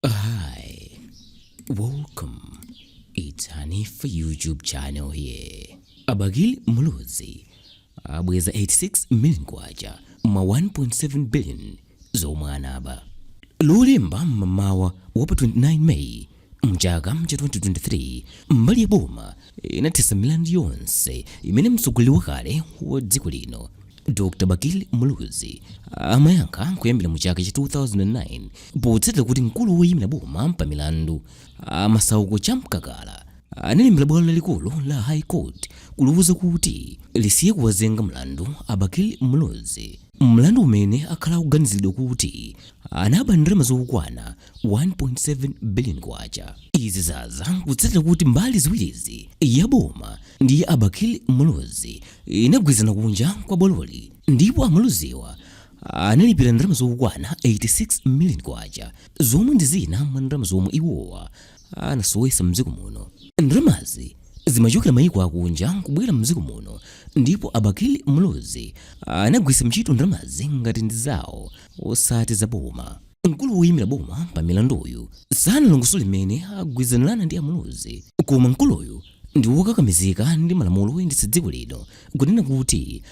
Hi, welcome. It's Hanifa YouTube channel here. A Bakili Muluzi abweza 86 million kwacha mwa 1.7 billion zomwe anaba lolemba mmamawa wa pa 29 May mchaka mcha 2023 mbali ya boma inathetsa milandu yonse imene mtsogoleri wakale wa dziko lino Dr. Bakili Muluzi amayankha kuyambira mu chaka cha 2009 potsatira kuti mkulu woyimira boma pa milandu Masauko Chamkakala analembera bwalo lalikulu la High Court kuliwuza kuti lisiye kuwazenga mlandu a Bakili Muluzi mlandu umene akhala akuganiziridwa kuti anaba ndalama zokwana 1.7 billion kwacha. Izi zaza kutsatira kuti mbali ziwirizi ya boma ndi a Bakili Muluzi inagwirizana kunja kwa bwaloli ndipo a Muluziwa analipira ndalama zokwana 86 million kwacha zomwe ndi zina mwa ndalama zomwe iwowa anasowesa mdziko muno ndalamazi zimachokera mayiko akunja kubwera mdziko muno ndipo a Bakili Muluzi anagwiritsa ntchito ndalamazi ngati ndi zawo osati zaboma Mkulu woyimira boma pa milanduyu sanalongosole mmene agwirizanirana ndi a Muluzi koma mkuluyu ndi wokakamizika ndi malamulo oyendetsa dziko lino kunena kuti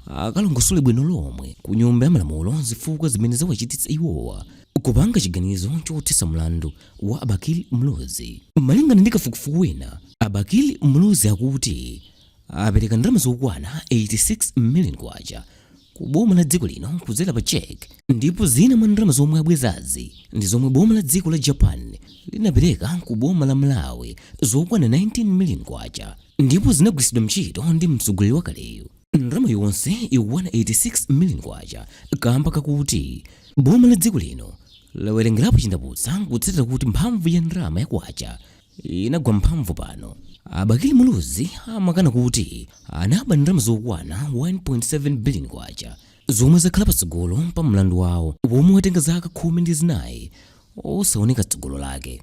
akalongosole bwino lomwe ku Nyumba ya Malamulo zifukwa zimene zawachititsa iwowa kupanga chiganizo chothetsa mlandu wa a Bakili Muluzi. Malingana ndi kafukufuku wina, a Bakili Muluzi akuti apereka ndalama zokwana 86 million kwacha ku boma la dziko lino kudzera pa check ndipo zina mwa ndalama zomwe abwezazi ndi zomwe boma la dziko la japan linapereka ku boma la malawi zokwana 19 million kwacha ndipo zinagwiritsidwa ntchito ndi mtsogoleri wakaleyu ndalama yonse ikukwana 86 million kwacha kamba kakuti boma la dziko lino lawerengerapo chindapusa kutsatira kuti mphamvu ya ndalama ya kwacha inagwa mphamvu pano. A Bakili Muluzi amakana kuti anaba ndalama zokwana 1.7 billion kwacha zomwe zakhala patsogolo pa mlandu wawo womwe watenga zaka khumi ndi zinayi osaoneka tsogolo lake.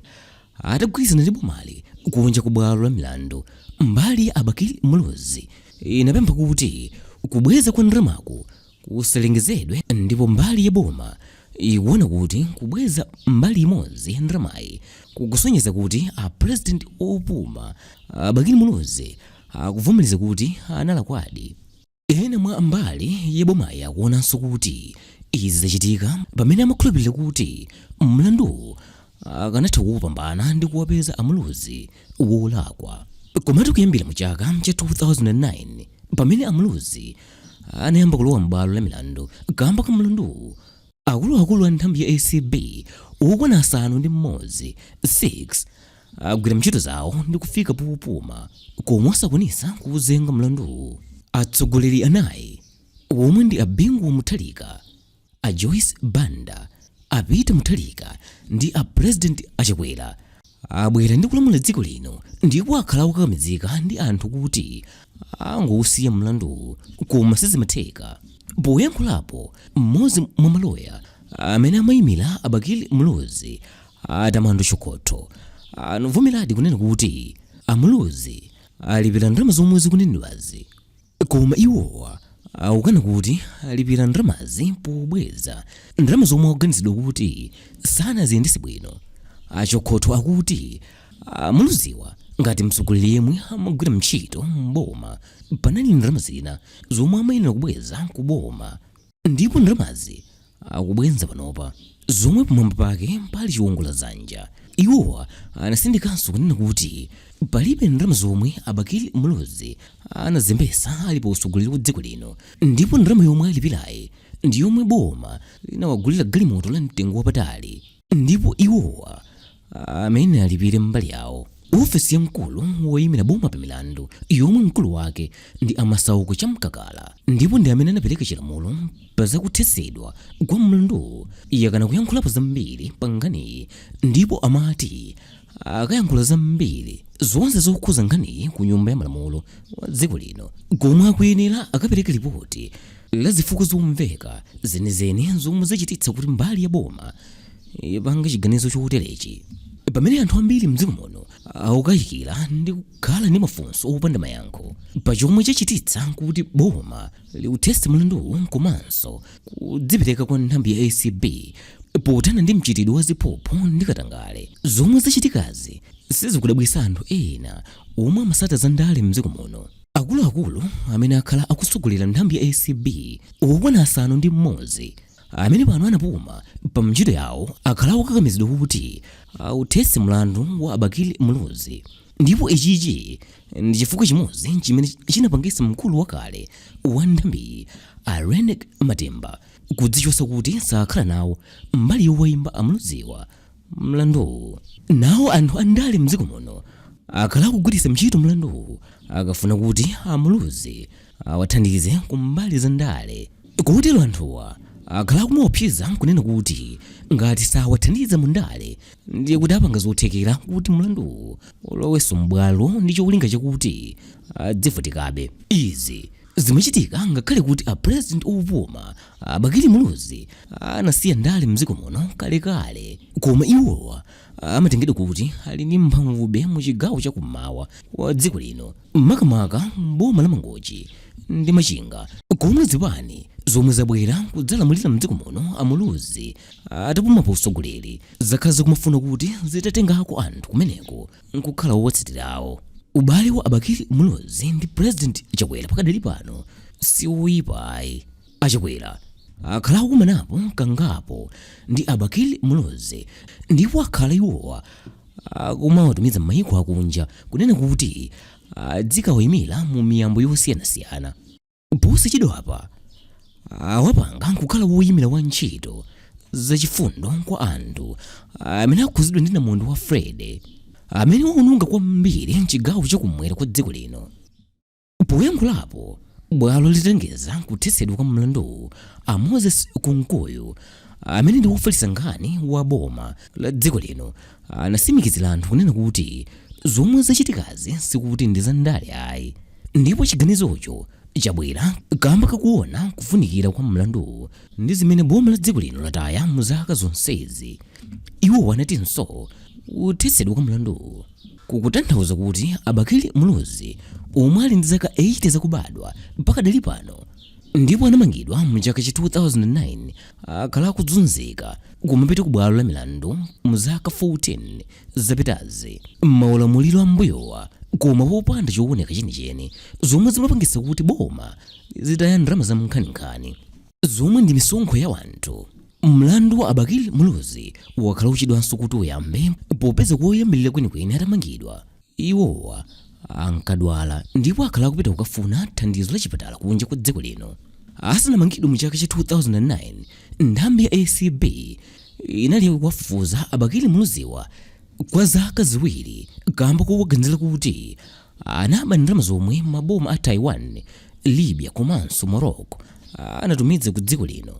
Atagwirizana ndi bomali kunja ku bwalo la milandu, mbali ya a Bakili Muluzi inapempha kuti kubweza kwa ndalamaku kusalengezedwe ndipo mbali ya boma ikuona kuti kubweza mbali imodzi ya ndalamayi kukusonyeza kuti a president opuma a Bakili Muluzi akuvomereza kuti analakwadi. Ena mwa mbali ya bomayi akuonanso kuti izi zachitika pamene amakhulupirira kuti mlanduwu akanatha kuupambana ndi kuwapeza a Muluzi wolakwa. Komatu kuyambira mu chaka cha 2009 pamene a Muluzi anayamba kulowa m'bwalo la milandu kamba ka mlanduwu, akuluakulu a nthambi ya acb okwana asanu ndi m'modzi, 6, agwira ntchito zawo ndi kufika popuma koma osakwanitsa kuwuzenga mlanduwu. Atsogoleri anayi, omwe ndi a Bingu wa Mutharika, A Joyce Banda, a Peter Mutharika ndi a President a Chakwera abwera ndi kulamula dziko lino ndipo akhala akukakamizika ndi anthu kuti angousiya mlanduwu koma sizimatheka. Poyankhulapo, mmodzi mwa maloya amene amaimira a Bakili Muluzi, a Tamando Chokotho, anavomeradi kunena kuti a Muluzi alipira ndalama zomwe zikunenedwazi. Koma iwowa akukana kuti alipira ndalamazi pobweza ndalama zomwe akuganizidwa kuti sanaziyendetse bwino. A Chokhotho akuti a Muluziwa ngati mtsogoleri yemwe amagwira ntchito m'boma panali ndalama zina zomwe amayenera kubweza ku boma. ndipo ndalamazi akubwenza panopa zomwe pamwamba pake pali chiwongola dzanja iwowa anatsindikanso kunena kuti palibe ndalama zomwe a bakili muluzi anazembetsa ali pa utsogoleri wa dziko lino ndipo ndalama yomwe alipirayi ndi yomwe boma linawagulira galimoto la mtengo wapatali ndipo iwowa amene alipire mbali yawo. Ofesi ya mkulu woyimira boma pa milandu yomwe mkulu wake ndi a Masauko Chamkakala ndipo ndi amene anapereka chilamulo pa za kuthetsedwa kwa mlanduwu yakana kuyankhulapo zambiri pa nkhaniyi ndipo amati akayankhula zambiri zonse zokhuza nkhaniyi ku nyumba ya malamulo wa dziko lino komwe akuyenera akapereka lipoti la zifukwa zomveka zenizeni zomwe zachititsa kuti mbali ya boma ipange chiganizo choterechi pamene anthu ambiri mdziko muno akukayikira ndi kukhala ndi mafunso opanda mayankho pa chomwe chachititsa kuti boma liuthetse mlanduwu komanso kudzipereka kwa nthambi ya acb pothana ndi mchitidwe wa ziphuphu ndi katangale zomwe zachitikazi sizikudabwitsa anthu ena omwe amatsata za ndale mdziko muno akuluakulu amene akhala akutsogolera nthambi ya acb okwana asanu ndi mmodzi amene pano anapuma pa ntchito yawo akhala akukakamizidwa kuti authetse mlandu wa a bakili muluzi ndipo ichichi ndi chifukwa chimodzi chimene chinapangitsa mkulu wakale wa nthambiyi a Reyneck Matemba kudzichotsa kuti sakhala nawo mbali yowaimba a muluziwa mlanduwu nawo anthu andale mdziko muno akhala akugwiritsa ntchito mlanduwu akafuna kuti a muluzi awathandize kumbali za ndale kotero anthuwa akhala akumaopseza nkunena kuti ngati sawathandiza mu ndale ndiye kuti apanga zothekera kuti mlanduwu ulowenso m'bwalo ndi cholinga chakuti adzivutikabe izi zimachitika ngakhale kuti a president opuma a bakili muluzi anasiya ndale mdziko muno kalekale koma iwowa amatengedwa kuti ali ndi mphamvube mu chigawo chakummawa wa dziko lino makamaka boma la Mangochi ndi Machinga komwe zipani zomwe zabwera kudzalamulira mdziko muno a Muluzi atapuma pa utsogoleri zakhala zikumafuna kuti zitatengako anthu kumeneko nkukhala owatsatirawo. Ubale wa a Bakili Muluzi ndi President Chakwera pakadali pano si woyipa ayi. A Chakwera akhala akukumanapo kangapo ndi a Bakili Muluzi ndipo akhala iwowa akumawatumiza m'mayiko akunja kunena kuti adzikawayimira mu miyambo yosiyanasiyana. Posachedwapa awapanga n'kukhala woyimira wa ntchito zachifundo kwa anthu amene akhudzidwa ndi namondwe wa Freddy amene wawononga kwambiri m'chigawo chakumwera kwa dziko lino. Poyankhulapo bwalo litalengeza kuthetsedwa kwa mlanduwu, a Moses Kunkuyu amene ndi wofalitsa nkhani wa boma la dziko lino anatsimikizira anthu kunena kuti zomwe zachitikazi sikuti ndi za ndale ayi ndipo chiganizocho chabwera kamba kakuona kufunikira kwa mlanduwu ndi zimene boma la dziko lino lataya mu zaka zonsezi. Iwo anatinso kuthetsedwa kwa mlanduwu Kukutanthauza kuti a Bakili Muluzi omwe ali ndi zaka 80 zakubadwa pakadali pano ndipo anamangidwa mu chaka cha 2009 akhala akudzunzika kumapita ku bwalo la milandu mu zaka 14 zapitazi m'maulamuliro ambuyowa koma popanda chowoneka chenicheni zomwe zimapangitsa kuti boma lizitaya ndalama zankhaninkhani. zomwe ndi misonkho ya wanthu mlandu wa a bakili muluzi wakhala ukuchedwanso kuti uyambe popeza koyambirira kwenikweni atamangidwa iwowa ankadwala ndipo akhala akupita kukafuna thandizo la chipatala kunja kwa dziko lino asanamangidwe mu chaka cha 2009 nthambi ya acb inali kuwafufuza a bakili muluziwa kwa zaka ziwiri kamba kowaganizira kuti anaba ndalama zomwe maboma a Taiwan, Libya komanso Morocco anatumiza ku dziko lino.